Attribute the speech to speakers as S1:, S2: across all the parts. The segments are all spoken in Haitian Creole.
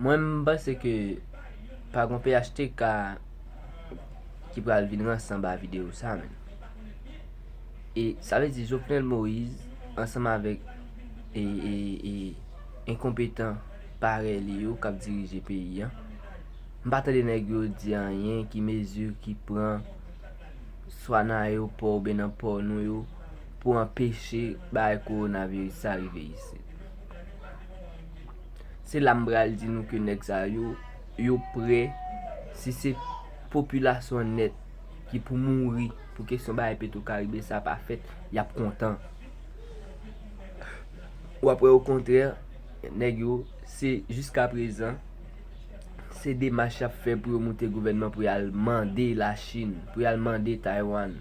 S1: Mwen m panse ke pa gon phtk ki pral vin rans anba videyo sa menm. E sa vle di Jovenel Moise ansanm avèk e e e enkonpetan parèy li yo k ap dirije peyi an. M pa tande nèg yo di anyen ki mezi ki pran swa nan ayewopò oubyen nan pò nou yo pou anpeche bagay kowonaviris sa rive isit. Se la m pral di nou ke nèg sa yo, yo pre, si se popilasyon nèt ki pou mouri pou kesyon bagay petwokaribe sa pa fèt, y ap kontan. Ou ap wè okontrè, nèg yo, se jiska prezan, se demach y ap fè pou yo moute gouvènman pou y al mande Lachin, pou y al mande Taywann,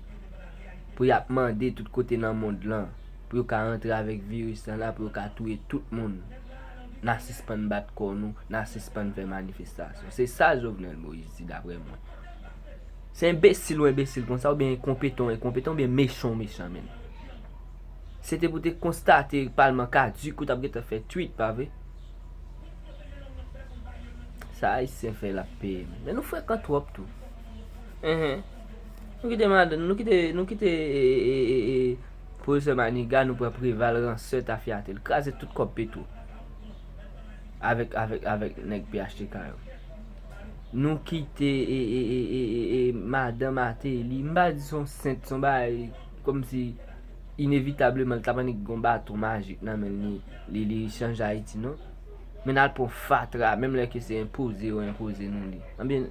S1: pou y ap mande tout kote nan mond lan. pou yo ka rantre avèk viris lan la pou yo ka touye tout moun na sispann bat kò nou na sispann fè manifestasyon se sa Jovenel Moïse di daprè mwen se enbesil ou enbesil konsa oubyen enkonpetan ou enkonpetan oubyen mechan ou mechan menn se te pou te konstate palman kaduk ou tap gentan fè twit pa vre sa ayisyen fè lap peye menn men nou frekan twòp tou enhen nou kite nou kite eee Professor maniga nou pran preval ransè tafyate l kraze tout kòb petro avèk avèk avèk nèg phtk yo nou kite eeeeee madan mateli m pa di son sent son bagay kòmsi inevitableman l tap annik gon baton majik nan men li li li chanje ayiti non men nal pran fatra menm lè ke se enpoze yo enpoze nou li anbyen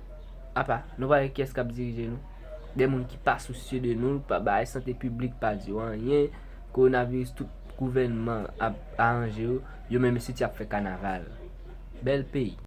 S1: apa nou pa wè kiyès kap dirije nou. de moun ki pa sousye de nou, pa bay sante piblik pa di yo anyen, kowonaviris tout gouvènman ap aranje yo, yo menm isit y ap fè kanaval. Bèl peyi.